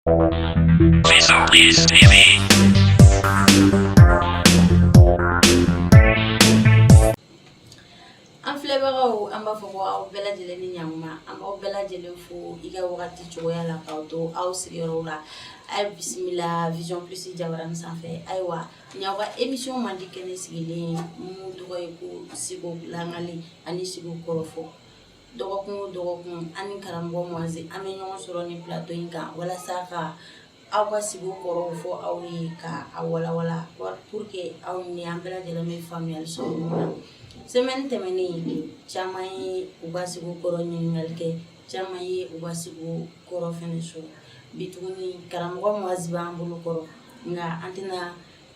An filɛbagaw an b'a fɔ ko aw bɛɛ lajɛlen ni ɲakuma an b'aw bɛɛ lajɛlen fo i ka wagati cogoya la k'aw to aw sigiyɔrɔw la a ye bisimila vision plus jabarani sanfɛ ayiwa nin y'aw ka émission mandi kɛnɛ sigilen ye min tɔgɔ ye ko siko lakali ani siko kɔrɔfɔ dɔgɔkun o dɔgɔkun an ni karamɔgɔ Moise an bɛ ɲɔgɔn sɔrɔ nin plateau in kan walasa ka aw ka sikow kɔrɔw fɔ aw ye ka a walawala pour que aw ni an bɛɛ lajɛlen bɛ faamuyali sɔrɔ min na semaine tɛmɛnen caman ye u ka sikow kɔrɔ ɲininkali kɛ caman ye u ka sikow kɔrɔ fɛnɛ sɔrɔ bi tuguni karamɔgɔ Moise b'an bolo kɔrɔ nka an tɛna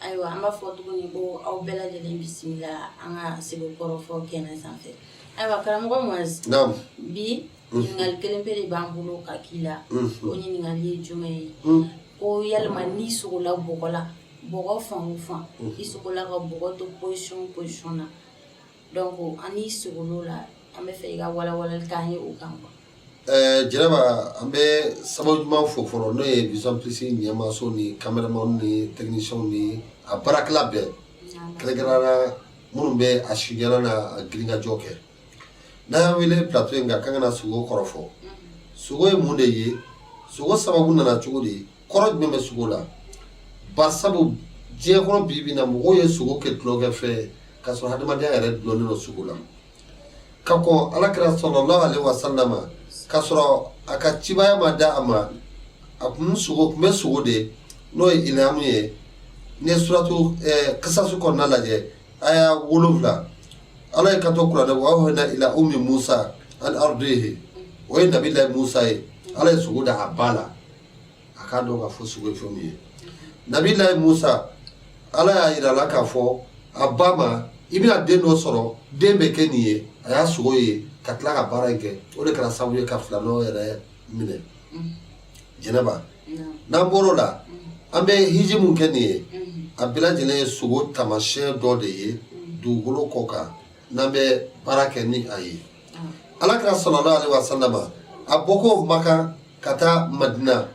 ayiwa an b'a fɔ tuguni ko aw bɛɛ lajɛlen bisimila an ka siko kɔrɔfɔ kɛnɛ sanfɛ ayiwa karamɔgɔ Moise bi mhm. ɲininkali kelen pe de b'an bolo ka k'i la mhm. o ɲininkali ye jumɛn ye mhm. ko yalima n'i sogola bɔgɔ la bɔgɔ fan o fan i sogola ka bɔgɔ to position o position na donc an n'i sogol'o la an b'a fɛ i ka walawalali k'an ye o kan quoi Ɛɛ jɛnɛba an bɛ sababu ɲuman fo fɔlɔ n'o ye vision plus ɲɛmaaso ni kameramani ni technicienw ni a baarakɛla bɛɛ kɛrɛnkɛrɛnla minnu bɛ a sidi na a grinkajɔ kɛ n'a y'a wele plateau in nka ka kana na sogo kɔrɔfɔ sogo ye mun de ye sogo sababu nana cogo de ye kɔrɔ jumɛn bɛ sogo la ba sabu diɲɛ kɔnɔ bi bi in na mɔgɔw ye sogo kɛ tulonkɛfɛn k'a sɔrɔ hadamadenya yɛrɛ dulonnen don sogo la ka kɔn alakira salalahu alehi wasalama k'a sɔrɔ a ka cibaya ma da a ma a kun sogo kun bɛ sogo de n'o ye ilhamu ye n'i ye suratu ɛɛ kasasi kɔnɔna lajɛ aya wolonwula ala y'i kanto kuranɛ wa awhayna ila ummi musa an ardihi o ye nabilahi musa ye ala ye sogo da a ba la a k'a dɔn k'a fɔ sogo ye fɛn min ye nabilayi musa ala y'a yira la k'a fɔ a ba ma i bɛna den dɔ sɔrɔ den bɛ kɛ nin ye a y'a sogo ye ka tila ka baara in kɛ o de kɛra sababu ye ka firawuna yɛrɛ minɛ jɛnɛba n'an bɔr'o la an bɛ hiji min kɛ nin ye a bɛɛ lajɛlen ye sogo taamasiyɛn dɔ de ye dugukolo kɔ kan n'an bɛ baara kɛ ni a ye alakira salala ale wa salama a bɔko makan ka taa madina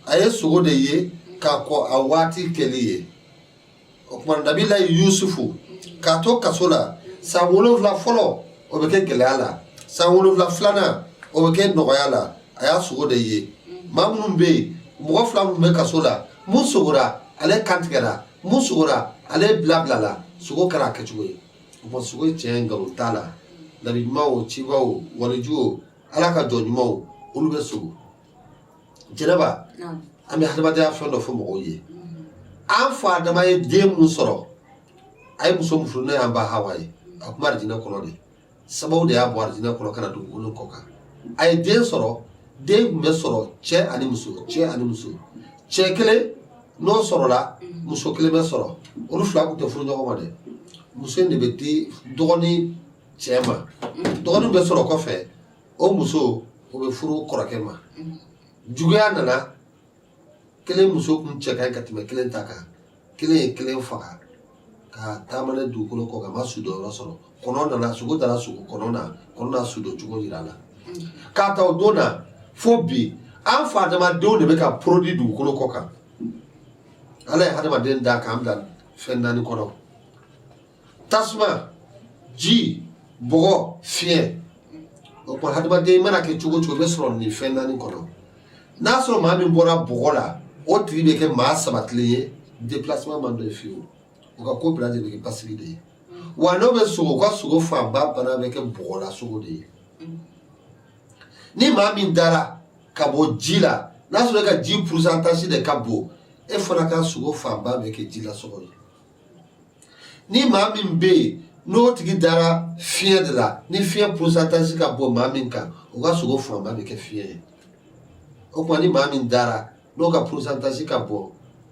a ye sogo de ye ka kɔn a waati kɛli ye o tuma nabilayi yusufu k'a to kaso la san wolonwula fɔlɔ o bɛ kɛ gɛlɛya la san wolonwula filanan o bɛ kɛ nɔgɔya la a y'a sogo de ye maa minnu bɛ yen mɔgɔ fila minnu bɛ kaso la min sogora ale kan tigɛra min sogora ale bilabilala sogo kɛra a kɛcogo ye o tuma sogo ye tiɲɛ nkalon t'a la nabi ɲuman o ciba o waliju o ala ka jɔn ɲumanw olu bɛ sugo jɛnɛba an bɛ hadamadenya fɛn dɔ fɔ mɔgɔw ye an fa adama ye den min sɔrɔ a ye muso muso n'o y'an ba hawa ye a tun bɛ arijinɛ kɔnɔ de sababu de y'a bɔ arijinɛ kɔnɔ ka na dugukolo kɔ kan a ye den sɔrɔ den tun bɛ sɔrɔ cɛ ani muso cɛ ani muso cɛ kelen n'o sɔrɔla muso kelen bɛ sɔrɔ olu fila tun tɛ furu ɲɔgɔn ma dɛ muso in de bɛ di dɔgɔnin cɛ ma dɔgɔnin bɛ sɔrɔ kɔfɛ o muso o bɛ furu kɔrɔkɛ ma juguya nana kelen muso kun cɛ ka ɲi ka tɛmɛ kelen ta kan kelen ye kelen faga ka taama n'a ye dugukolo kɔ kan a ma sudonyɔrɔ sɔrɔ kɔnɔ nana sugo dara sugo kɔnɔ na kɔnɔ na sudon cogo yira a la k'a ta o don na fo bi an fa adamadenw de bɛ ka produit dugukolo kɔ kan ala ye hadamaden da k'an bila fɛn naani kɔnɔ tasuma ji bɔgɔ fiɲɛ o tuma hadamaden mana kɛ cogo o cogo bɛ sɔrɔ nin fɛn naani kɔnɔ n'a sɔrɔ maa min bɔra bɔgɔ la o tigi bɛ kɛ maa sabatilen ye déplacement man d'o ye fewu o ka ko bɛɛ lajɛlen bɛ kɛ basigi de ye wa n'o bɛ sugo o ka sugo fanba bana bɛ kɛ bɔgɔla sugo de ye ni maa min dara ka bɔ ji la n'a sɔrɔ e ka ji pourcentage de ka bon e fana ka sugo fanba bɛ kɛ jila sugo ye ni maa min bɛ yen n'o tigi dara fiɲɛ de la ni fiɲɛ pourcentage ka bon maa min kan o ka sugo fanba bɛ kɛ fiɲɛ ye o tuma ni maa min dara n'o ka pourcentage ka bon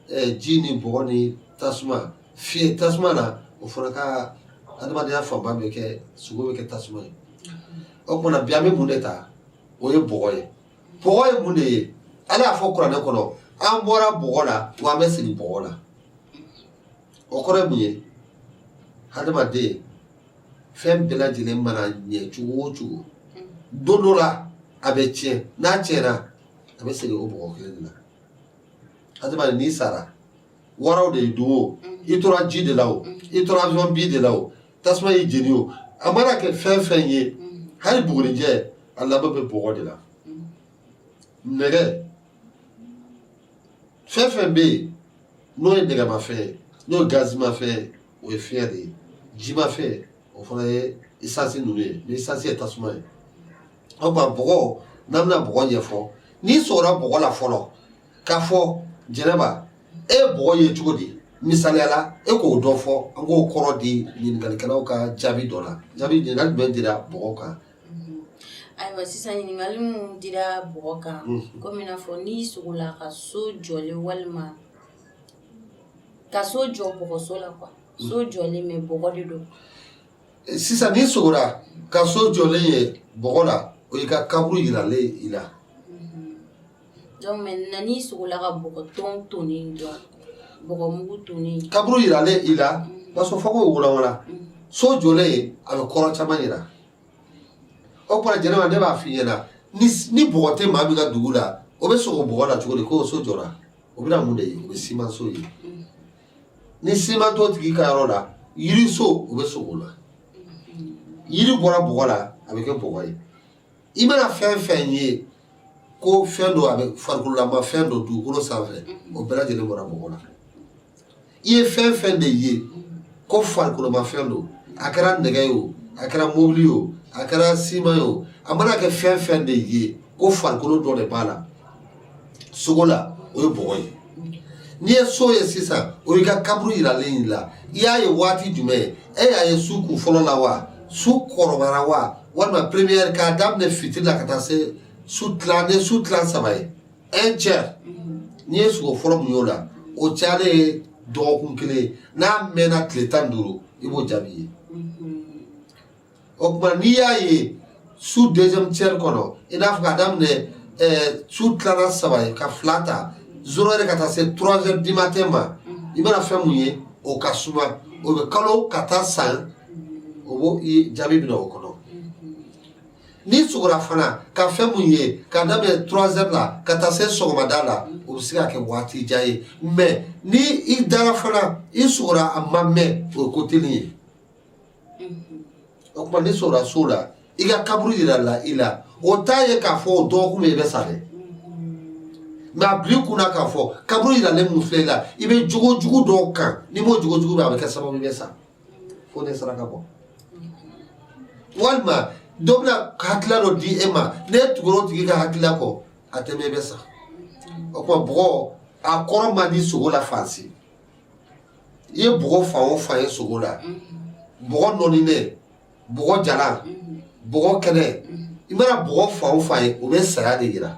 eh, ji ni bɔgɔ ni tasuma fiɲɛ tasuma na o fana ka adamadenya fanba bɛ kɛ sugo bɛ kɛ tasuma ye o tuma na bi an bɛ mun de ta o ye bɔgɔ ye bɔgɔ ye mun de ye ala y'a fɔ kuranɛ kɔnɔ an bɔra bɔgɔ la wa an bɛ segin bɔgɔ la o kɔrɔ mun ye adamadenya fɛn bɛɛ lajɛlen mana ɲɛ cogo o cogo don dɔ la a bɛ tiɲɛ n'a tiɲɛna a bɛ segin o bɔgɔ kelen de la adamaden n'i sara waraw de y'i dun o mm. i tora ji de la o mm. i tora avion bin de la o tasuma y'i jeni o a mana kɛ fɛn fɛn ye mm. hali bugurijɛ a laban bɛ bɔgɔ de la nɛgɛ fɛn fɛn bɛ yen n'o ye nɛgɛmafɛn ye n'o ye gazimafɛn ye o ye fiɲɛ de ye jimafɛn o fana ye isansi ninnu ye mais isansi ye tasuma ye o tuma bɔgɔ n'an bɛna bɔgɔ ɲɛfɔ n'i sugora bɔgɔ la fɔlɔ k'a fɔ jɛnɛba e ye bɔgɔ ye cogo di misaliya la e k'o dɔ fɔ an k'o kɔrɔ di ɲininkalikɛlaw ka jaabi dɔ la jaabi ɲininkali jumɛn dira bɔgɔ kan Ayiwa sisan ɲininkali minnu dira bɔgɔ kan komi i n'a fɔ n'i sogola ka so jɔlen walima ka so jɔ bɔgɔso la ka so jɔlen bɛ bɔgɔ de don sisan n'i sogora ka so jɔlen ye bɔgɔ la o y'i ka kaburu jiralen i la kaburu jiralen i la b'a sɔrɔ fo k'o walawala so jɔlen ye a bɛ kɔrɔ caman jira o tuma jɛnɛba ne b'a f'i ɲɛna ni bɔgɔ tɛ maa min ka dugu la o bɛ sogo bɔgɔ la cogo di k'o so jɔra o bɛna mun de ye o bɛ simanso ye ni siman t'o tigi ka yɔrɔ la yiriso o bɛ sogo la yiri bɔra bɔgɔ la a bɛ kɛ bɔgɔ ye i mana fɛn fɛn ye ko fɛn don a bɛ farikololama fɛn don dugukolo sanfɛ o bɛɛ lajɛlen bɔra bɔgɔ la i ye fɛn fɛn de ye ko farikoloma fɛn don a kɛra nɛgɛ ye o a kɛra mobili ye o a kɛra siman ye o a mana kɛ fɛn fɛn de ye ko farikolo dɔ de b'a la sogo la o ye bɔgɔ ye n'i ye so ye sisan o y'i ka kaburu yiralen y'i la i y'a ye waati jumɛn ye e y'a ye su kun fɔlɔ la wa su kɔrɔbayara wa walima première k'a daminɛ fitiri la ka taa se su tilan ni su tilan saba ye un tiers n'i ye sogo fɔlɔ mun y'o la o cayalen ye dɔgɔkun kelen ye n'a mɛnna tile tan ni duuru i b'o jaabi ye o tuma n'i y'a ye su deuxième tiers kɔnɔ i n'a fɔ ka daminɛ su tilala saba ye ka fila ta zéro heure ka taa se trois heures du matin ma i mana fɛn mun ye o ka suma o bɛ kalo ka taa san o jaabi bɛ na o kɔnɔ n'i sogora fana ka fɛn mun ye ka daminɛ trois heures la ka taa se sɔgɔmada la o bɛ se ka kɛ waati jan ye mɛ ni i dara fana i sogora a ma mɛn o ye ko teli ye O tuma n'i sogora so la i ka kaburu jirala i la o t'a ye k'a fɔ o dɔgɔkun min i bɛ sa dɛ nka a b'i lakunun k'a fɔ kaburu jiralen mun filɛ i la i bɛ jogojugu dɔw kan n'i m'o jogojugu bɛ a bɛ kɛ sababu i bɛ sa fo n'i ye saraka bɔ walima dɔ bɛna hakilila dɔ di e ma n'e tugura o tigi ka hakilila kɔ a tɛ mɛn i bɛ sa o tuma bɔgɔ a kɔrɔ man di sogo la fan si i ye bɔgɔ fan o fan ye sogo la bɔgɔ nɔɔninen bɔgɔ jalan bɔgɔ kɛnɛ i mana bɔgɔ fan o fan ye o bɛ saya de jira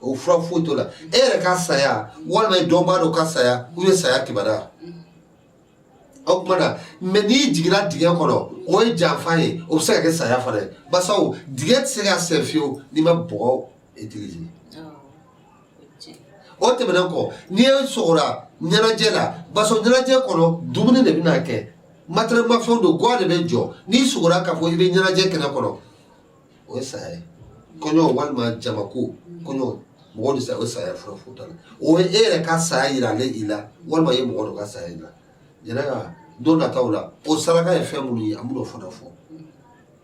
o fura foyi t'o la e yɛrɛ ka saya walima i dɔnbaa dɔ ka saya o ye saya kibaru o tuma na mɛ n'i jiginra dingɛ kɔnɔ o ye janfa ye o bɛ se ka kɛ saya fana ye bawo dingɛ tɛ se ka sen fewu n'i ma bɔgɔ o tɛmɛnen kɔ ni e sogora ɲɛnajɛ la baso ɲɛnajɛ kɔnɔ dumuni de bɛna kɛ matɛrɛ mafɛnw don gwa de bɛ jɔ n'i sogora k'a fɔ i bɛ ɲɛnajɛ kɛnɛ kɔnɔ o ye saya ye kɔɲɔ walima jamako kɔɲɔ mɔgɔ de sa o ye saya fura fo ta la o ye e yɛrɛ ka saya yiralen i la walima i ye mɔgɔ dɔ ka saya yira jɛnɛ ka don nataw la o saraka ye fɛn minnu ye an b'o fana fɔ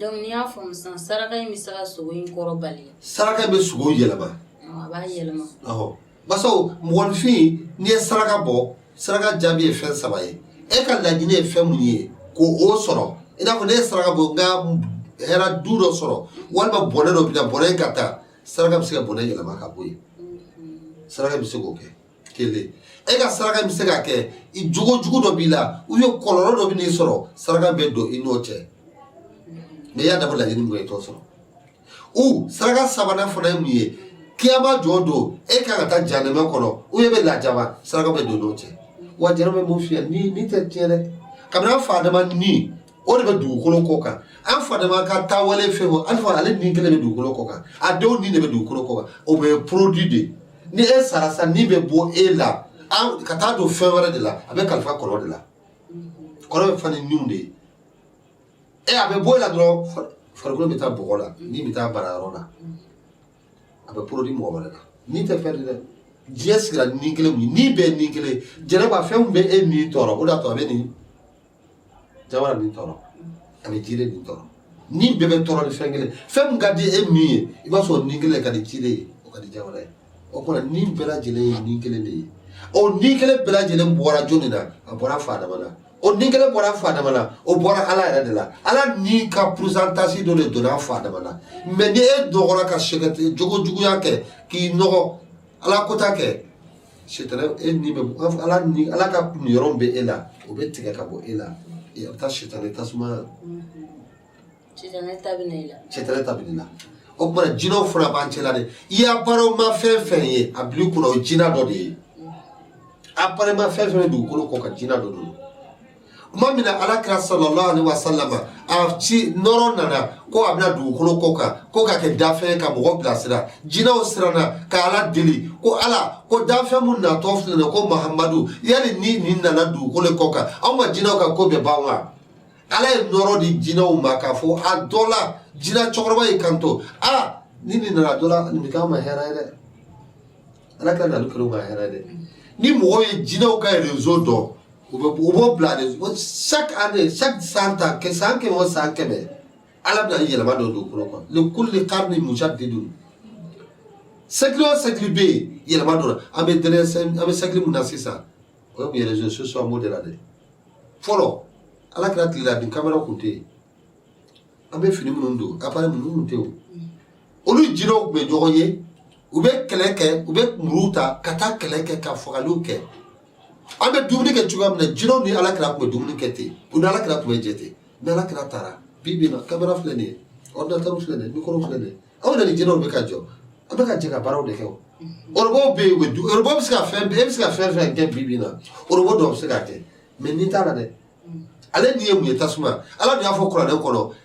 Donc n'i y'a faamu sisan saraka in bɛ se ka sogo in kɔrɔ bali wa? Saraka in bɛ sogo yɛlɛma. Awɔ, a b'a yɛlɛma. Awɔ. Basaw, mɔgɔninfin, n'i ye saraka bɔ, saraka jaabi ye fɛn saba ye. E ka laɲini ye fɛn min ye, k'o sɔrɔ. I n'a fɔ ne ye saraka bɔ, n ka hɛrɛ du dɔ sɔrɔ, walima bɔnɛ dɔ bɛna, bɔnɛ in ka taa, saraka bɛ se ka bɔnɛ yɛlɛma ka bɔ yen. Saraka bɛ se k'o kɛ. kelen e ka saraka bɛ se ka kɛ i jogo jugu dɔ b'i la u ye kɔlɔlɔ dɔ bɛn'i sɔrɔ saraka bɛ don i n'o cɛ n'i y'a dabɔ laɲini min kɛ i t'o sɔrɔ u saraka sabanan fana ye mun ye kiyama jɔ don e kan ka taa jahanama kɔnɔ u ye bɛ lajaba saraka bɛ don i n'o cɛ wa jɛnɛma b'o fiyɛ ni ni tɛ tiɲɛ dɛ kabini an fa adama ni o de bɛ dugukolo kɔ kan an fa adama ka taawale fɛn o an fa ale ni kelen bɛ dugukolo kɔ kan a denw ni de bɛ dugukolo kɔ kan o bɛɛ ye produit de ye ni e sara sa ni bɛ bɔ e la ka taa don fɛn wɛrɛ de la a bɛ kalifa kɔnɔ de la kɔnɔ bɛ fa ni niw de ye e a bɛ bɔ e la dɔrɔn farikolo bɛ taa bɔgɔ la ni bɛ taa baara yɔrɔ la a bɛ produit mɔgɔ wɛrɛ la ni tɛ fɛn de dɛ diɲɛ sigira ni kelen ni bɛɛ ni kelen jɛnɛba fɛnw bɛ e min tɔɔrɔ o de y'a to a bɛ nin jamana min tɔɔrɔ ani jire min tɔɔrɔ ni bɛɛ bɛ tɔɔrɔ ni fɛn kelen fɛn min ka di e min ye i b'a sɔrɔ ni kelen ka di jire ye o ka di jamana ye o kɔrɔ ni bɛɛ lajɛlen ye ni kelen de ye o ni kelen bɛɛ lajɛlen bɔra jɔni na a bɔra fa adama na o ni kelen bɔra fa adama na o bɔra ala yɛrɛ de la ala ni ka pourcentage dɔ de donna fa adama na mɛ ni e dɔgɔra ka sɛgɛte jogo juguya kɛ k'i nɔgɔ ala kota kɛ Sitanɛ e ni bɛ ala ni ala ka kun yɔrɔ bɛ e la o bɛ tigɛ ka bɔ e la bɛ taa sitanɛ tasuma ta la o tuma jinɛw fana b'an cɛla de i y'a baaraw ma fɛn fɛn ye a bi kɔnɔ o jinɛ dɔ de ye a ma fɛn fɛn dugukolo kɔ kan jinɛ dɔ don tuma min na ala kira sallallahu alaihi wa sallama a ci nɔɔrɔ nana ko a bɛna dugukolo kɔ kan ko ka kɛ danfɛn ka mɔgɔ bilasira jinɛw siranna ka ala deli ko ala ko danfɛn mun natɔ filɛ nin ko mahamadu yali ni nin nana dugukolo kɔ kan anw ka jinɛw ka ko bɛ ban wa ala ye nɔɔrɔ di jinɛw ma k'a fɔ a dɔ la jinɛ cɛkɔrɔba y'i kanto a ni nin nana dɔ la nin bɛ k'an ma hɛrɛ ye dɛ ala ka na kalo ka hɛrɛ dɛ ni mɔgɔw ye jinɛw ka rezo dɔn u bɛ u b'o bila de chaque année chaque san ta kɛ san kɛmɛ o san kɛmɛ ala bɛna ni yɛlɛma dɔ don kɔnɔ kɔ le kulu le kari ni musa de don sɛkili o sɛkili bɛ yen yɛlɛma dɔ la an bɛ dɛrɛ an bɛ sɛkili min na sisan o ye mun ye rezo sosiyo an b'o de la dɛ fɔlɔ ala kira tile la ni kamera tun tɛ yen an bɛ fini minnu don appareil ninnu tun tɛ yen olu jinɛw tun bɛ ɲɔgɔn ye u bɛ kɛlɛ kɛ u bɛ muruw ta ka taa kɛlɛ kɛ ka fagaliw kɛ an bɛ dumuni kɛ cogoya min na jinɛw ni ala kira tun bɛ dumuni kɛ ten u ni ala kira tun bɛ jɛ ten ni ala kira taara bi bi na kamera filɛ nin ye ɔridinatɛriw filɛ nin ye mikoro filɛ nin ye anw ni jinɛw bɛ ka jɛ an bɛ ka jɛ ka baaraw de kɛ o orobo bɛ yen u bɛ du orobo bɛ se ka fɛn bɛɛ e bɛ se ka fɛn fɛn kɛ bi bi na orobo dɔw bɛ se k'a kɛ mɛ ni t'a la dɛ ale ni ye mun ye tasuma ala de y'a fɔ kuranɛ kɔnɔ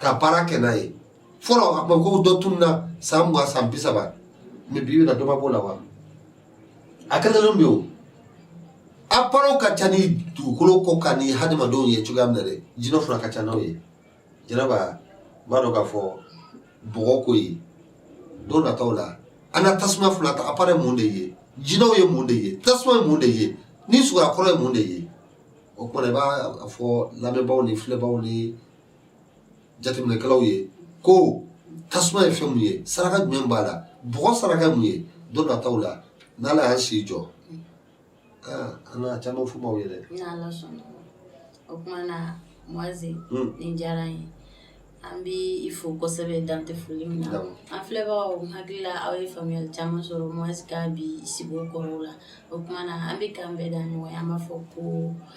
ka baara kɛ n'a ye fɔlɔ a tun ko dɔ tun na san mugan san bi saba mɛ bi bi na dɔba b'o la wa a kɛlen bɛ o a baaraw ka ca ni dugukolo kɔ kan ni hadamadenw ye cogoya min na dɛ jinɛ fana ka ca n'aw ye jɛnɛba b'a dɔn k'a fɔ bɔgɔ ko ye don nataw la an ka tasuma fɔlɔ ta apara mun de ye jinɛw ye mun de ye tasuma ye mun de ye ni suguya kɔrɔ ye mun de ye o kuma i b'a fɔ lamɛnbaaw ni filɛbaaw ni jateminɛkɛlaw ye ko tasuma ye fɛn mun ye saraka jumɛn b'a la bɔgɔ saraka mun ye don nataw la n'ala y'an si jɔ an na caman fɔ aw ye dɛ o kuma na moise hmm. nin diyara n ye an bɛ i fo kosɛbɛ dan tɛ foli min na an filɛbagaw hakili la aw ye faamuyali caman sɔrɔ moise ka bi sigiw kɔrɔw la o kuma na an bɛ k'an bɛn da ɲɔgɔn ye an b'a fɔ ko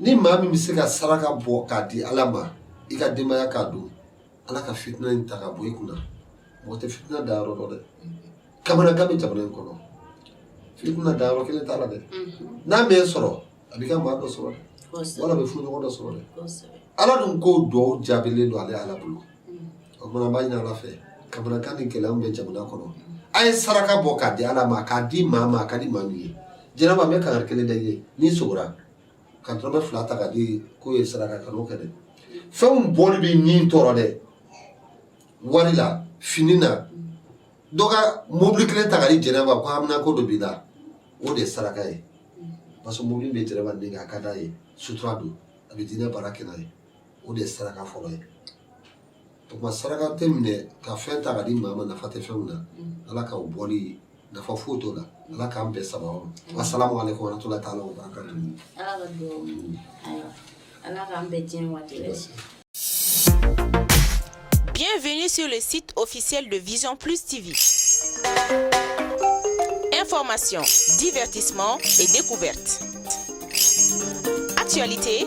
ni maa min bɛ se ka saraka bɔ k'a di ala ma i ka denbaya k'a dun ala ka fitina in ta ka bɔ i kunna mɔgɔ tɛ fitina da yɔrɔ dɔn dɛ kamanagan bɛ jamana in kɔnɔ fitina da yɔrɔ kelen t'a la dɛ n'a m'e sɔrɔ a b'i ka maa dɔ sɔrɔ dɛ wala a b'e furuɲɔgɔn dɔ sɔrɔ dɛ ala dun ko dugawu jaabilen don ale ala bolo o kuma na n b'a ɲini ala fɛ kamanagan ni gɛlɛya min bɛ jamana kɔnɔ a ye saraka bɔ k'a di ala ma k'a di maa ma a ka di maa min ye jɛnɛba n bɛ kangari kelen da i ye n'i sogora ka dɔrɔmɛ fila ta ka di k'o ye saraka kan'o kɛ dɛ fɛnw bɔli bɛ ni tɔɔrɔ dɛ wari la fini na dɔ ka mobili kelen ta ka di jɛnɛba ko hamina ko dɔ b'i la o de ye saraka ye parce que mobili bɛ jɛnɛba dɛmɛ a ka d'a ye sutura don a bɛ diinɛ baara kɛ n'a ye o de ye saraka fɔlɔ ye o tuma saraka tɛ minɛ ka fɛn ta ka di maa ma nafa tɛ fɛn min na mm. ala ka o bɔli nafa foyi t'o la ala k'an bɛɛ saba o mm. asalamu aleykum warahmatulahi taala wa barakatu mm. ala ka dugawu ayiwa ala k'an bɛɛ diɲɛ waati bɛɛ si Bienvenue sur le site officiel de Vision Plus TV. Informations, divertissements et découvertes. Actualité